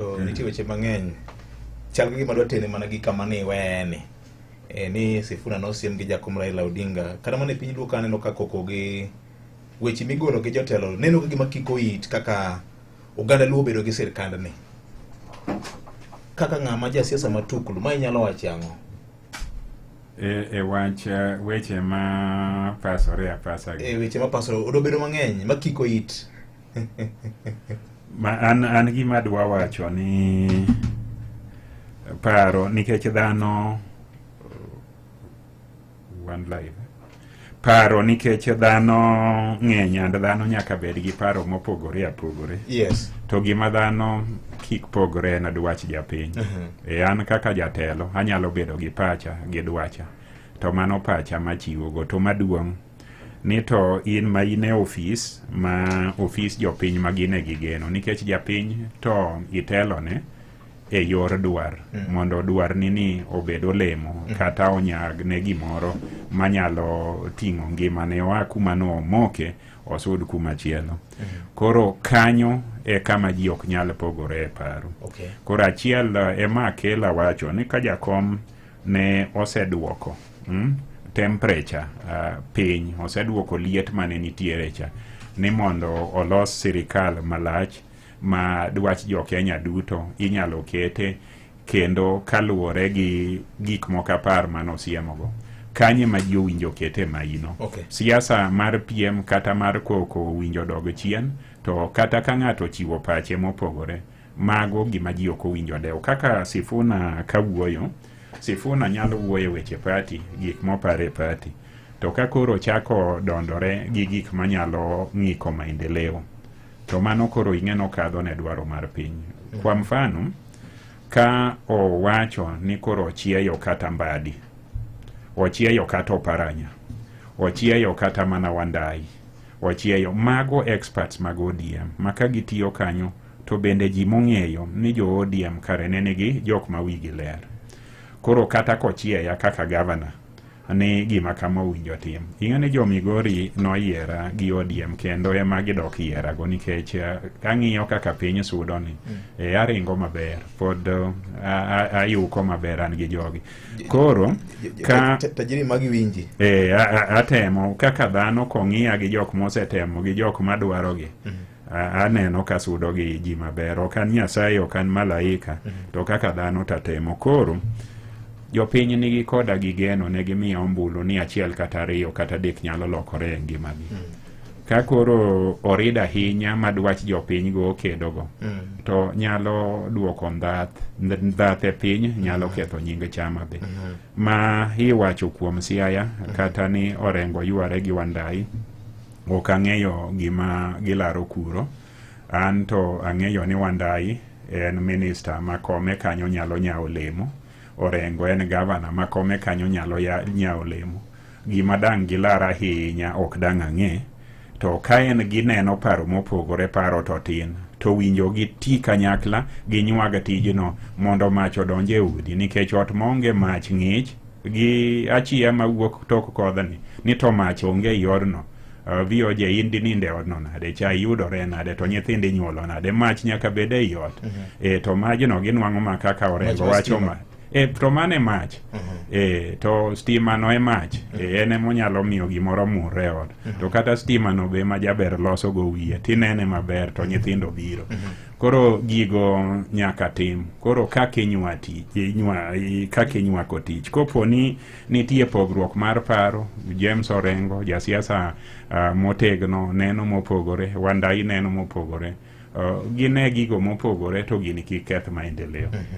Nitie weche mang'eny chal gi gima dwa tene mana gi kama ni wene e, ni Sifuna nosiem gi jakom Raila Odinga kata mana e piny luo kaneno ka koko gi weche migolo gi jotelo neno ka gima kiko it kaka oganda luo bedo gi sirkand ni kaka ng'ama ja siasa matuklu ma inyalo wacho ang'o e, e wach e, weche ma pasore apasa e weche ma pasore odobedo mang'eny ma kiko it ma an, an gima dwa wacho ni paro nikech dhano uh, one life paro nikech dhano ng'eny and dhano nyaka bed gi paro mopogore apogore yes to gima dhano kik pogore en dwach japiny Mhm. e an kaka jatelo anyalo bedo gi pacha gi dwacha to mano pacha machiwogo to maduong' ni to in ma in e ofis ma ofis jopiny ma gin e gigeno nikech japiny to itelone e yor dwar mm. mondo dwar ni ni obed olemo mm. kata onyag ne gimoro manyalo ting'o ngima ne oa kuma no omoke osud kuma chielo mm. koro kanyo e kama ji ok nyal pogore e paro okay. koro achiel eh, ema akela wacho ni ka jakom ne oseduoko mm, temperature uh, piny oseduoko liet mane nitiere cha ni mondo olos sirikal malach ma dwach jo Kenya duto inyalo kete kendo kaluwore gi gik moko apar mane osiemogo kanye ma ji owinjo kete maino okay. siasa mar piem kata mar koko owinjo dog chien to kata ka ng'ato ochiwo pache mopogore mago gima ji ok owinjo adewo kaka sifuna ka wuoyo sifuna nyalo wuoyo weche pati gik moparo e pati to ka koro chako dondore gi gik manyalo ng'iko maendeleo to mano koro ing'eno kadho ne dwaro mar piny kwa mfano ka owacho ni koro ochieyo kata mbadi ochieyo kata oparanya ochieyo kata mana wandai ochieyo mago experts mag odm ma ka gitiyo kanyo To bende ji mong'eyo ni jo ODM kare ne nigi jok ma wigi ler. Koro kata kochieya kaka gavana ni gima kama owinjo tim. Ing'e ni jo Migori noyiera gi ODM kendo ema gidok yierago nikech eh, ang'iyo kaka piny sudo ni mm. e, aringo maber pod eh, ayuko maber an gi jogi. Koro ka tajiri magi winji. E, atemo kaka dhano kong'iya gi jok mosetemo gi jok madwarogi. Mm -hmm. aneno ka sudo gi ji maber ok an nyasaye ok an malaika mm -hmm. to kaka dhano tatemo koro jopiny nigi koda gi geno ne gimiya ombulu ni achiel kata ariyo kata dek nyalo lokore e ngimagi mm -hmm. ka koro orid ahinya ma dwach jopiny go okedo go mm. to nyalo dwoko ndhath ndhath e piny nyalo mm. ketho nying chama be mm -hmm. ma iwacho kuom Siaya mhm. kata ni Orengo yware gi Wandai ok ang'eyo gima gilaro kuro. An to ang'eyo ni Wandai en minista ma kome kanyo nyalo nyawo lemo. Orengo en gavana ma kome kanyo nyalo nyawo lemo. Gima dang' gilar ahinya ok dang' ang'e, to ka en gineno paro mopogore paro to tin, to winjo gi ti kanyakla gi nyuag tijno mondo mach odonj e udi nikech ot maonge mach ng'ich gi achiya mawuok tok kodhni ni to mach onge i odno uh, VOJ in dinind e odno nade cha yudore nade to nyithind inyuolo nade mach nyaka bed e i ot mm -hmm. e, to majno ginwang'o ma kaka orengo wacho ma E, to mano e mach e, to stimano e mach e, en emonyalo miyo gimoro murre e ot to kata stimano be ma jaber loso go wiye tinene maber to nyithindo biro koro gigo nyaka tim koro kaka inywa tich inywa i- kaka inywako tich kopo ni nitie pogruok mar paro james orengo jasiasa ah, motegno neno mopogore wandai neno mopogore Ah, gine gigo mopogore to gini kik keth maendeleo